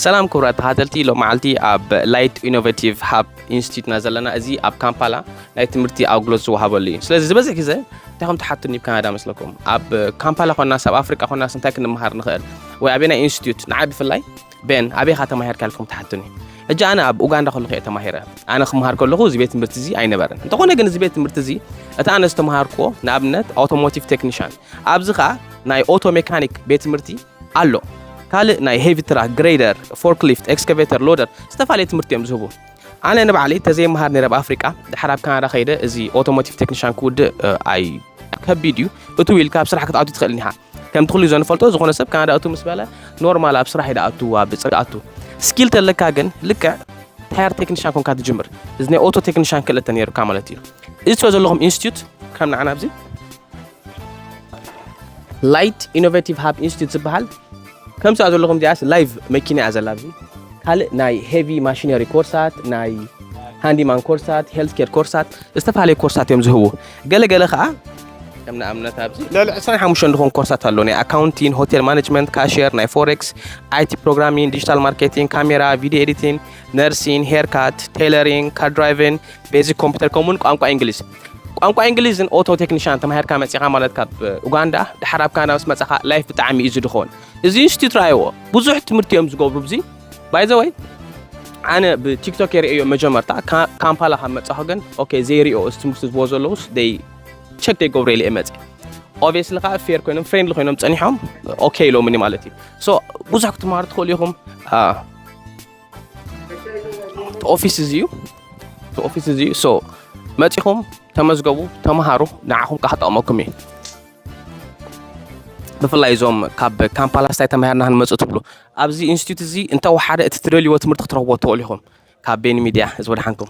ሰላም ክቡራት ተኸታተልቲ ሎመዓልቲ ኣብ ላይት ኢኖቬቲቭ ሃብ ኢንስቲትዩትና ዘለና እዚ ኣብ ካምፓላ ናይ ትምህርቲ ኣገልግሎት ዝወሃበሉ እዩ ስለዚ ዝበዝሕ ግዘ እንታይ ከም ትሓቱኒ ብ ካናዳ መስለኩም ኣብ ካምፓላ ኮናስ ኣብ ኣፍሪቃ ኮናስ እንታይ ክንምሃር ንኽእል ወይ ኣበይ ናይ ኢንስቲትዩት ንዓይ ብፍላይ ቤን ኣበይካ ተማሂርካ ኢልኩም ትሓቱኒ ሕጂ ኣነ ኣብ ኡጋንዳ ከለኹ እየ ተማሂረ ኣነ ክምሃር ከለኹ እዚ ቤት ትምህርቲ እዚ ኣይነበረን እንተኾነ ግን እዚ ቤት ትምህርቲ እዚ እቲ ኣነ ዝተምሃርክዎ ንኣብነት ኣውቶሞቲቭ ቴክኒሽን ኣብዚ ከዓ ናይ ኦቶ ሜካኒክ ቤት ትምህርቲ ኣሎ ካልእ ናይ ሄቪ ትራክ ግሬደር ፎርክሊፍት ኤክስካቬተር ሎደር ዝተፈላለየ ትምህርቲ እዮም ዝህቡ ኣነ ንባዕለይ ተዘይመሃር ነረ ኣብ ኣፍሪቃ ድሓር ኣብ ካናዳ ከይደ እዚ ኦቶሞቲቭ ቴክኒሻን ክውድእ ኣይ ከቢድ እዩ እቱ ኢልካ ኣብ ስራሕ ክትኣቱ ትኽእል ኒኻ ከምቲ ኩሉ ዘንፈልጦ ዝኾነ ሰብ ካናዳ እቱ ምስ በለ ኖርማል ኣብ ስራሕ ይደኣቱ ኣብ ብፅሪ ኣቱ ስኪል ተለካ ግን ልክዕ ታየር ቴክኒሻን ኮንካ ትጅምር እዚ ናይ ኦቶ ቴክኒሻን ክእለት ነይሩካ ማለት እዩ እዚ ትሪኦ ዘለኹም ኢንስቲትዩት ከም ንዓና ኣብዚ ላይት ኢኖቬቲቭ ሃብ ኢንስቲትዩት ዝበሃል ከምሳ ዘለኹም ዚኣስ ላይቭ መኪና እያ ዘላ ኣብዚ ካልእ ናይ ሄቪ ማሽነሪ ኮርሳት ናይ ሃንዲማን ኮርሳት ሄልት ኬር ኮርሳት ዝተፈላለዩ ኮርሳት እዮም ዝህቡ ገለገለ ከዓ ከም ንኣብነት ኣብዚ ልዕሊ 25 ዝኾን ኮርሳት ኣሎ ናይ ኣካውንቲን ሆቴል ማኔጅመንት ካሽየር ናይ ፎሬክስ ኣይቲ ፕሮግራሚን ዲጂታል ማርኬቲንግ ካሜራ ቪድዮ ኤዲቲን ነርሲን ሄርካት ቴይለሪንግ ካር ድራይቪን ቤዚክ ኮምፒተር ከምኡውን ቋንቋ እንግሊዝ ቋንቋ ኢንግሊዝን ኦቶ ቴክኒሻን ተማሂርካ መጺኻ ማለት ካብ ኡጋንዳ ድሓር ኣብ ካናዳ ምስ መጻኻ ላይፍ ብጣዕሚ እዩ ዝድኾን እዚ ኢንስቲትዩት ራይዎ ብዙሕ ትምህርቲ እዮም ዝገብሩ ብዚ ባይዘወይ ኣነ ብቲክቶክ የርእዮ መጀመርታ ካምፓላ ካብ መጻኹ ግን ኦኬ ዘይሪኦ እዚ ትምህርቲ ዝቦ ዘለውስ ደይ ቸክ ደይ ገብሩ ኢለ መጽ ኦብስሊ ከዓ ፌር ኮይኖም ፍሬንድሊ ኮይኖም ጸኒሖም ኦኬ ኢሎምኒ ማለት እዩ ሶ ብዙሕ ክትምሃሩ ትኽእሉ ኢኹም ኦፊስ እዚ እዩ ኦፊስ እዚ እዩ ሶ መፂኹም ተመዝገቡ ተምሃሩ ንዓኹም ከዓ ክጠቕመኩም እዩ ብፍላይ እዞም ካብ ካምፓላ ስታይ ተማሂርና ክንመፁ ትብሉ ኣብዚ ኢንስቲትዩት እዚ እንተወሓደ እቲ ትደልይዎ ትምህርቲ ክትረኽቦ ትኽእሉ ኢኹም ካብ ቤኒ ሚድያ እዚ ወድሓንኩም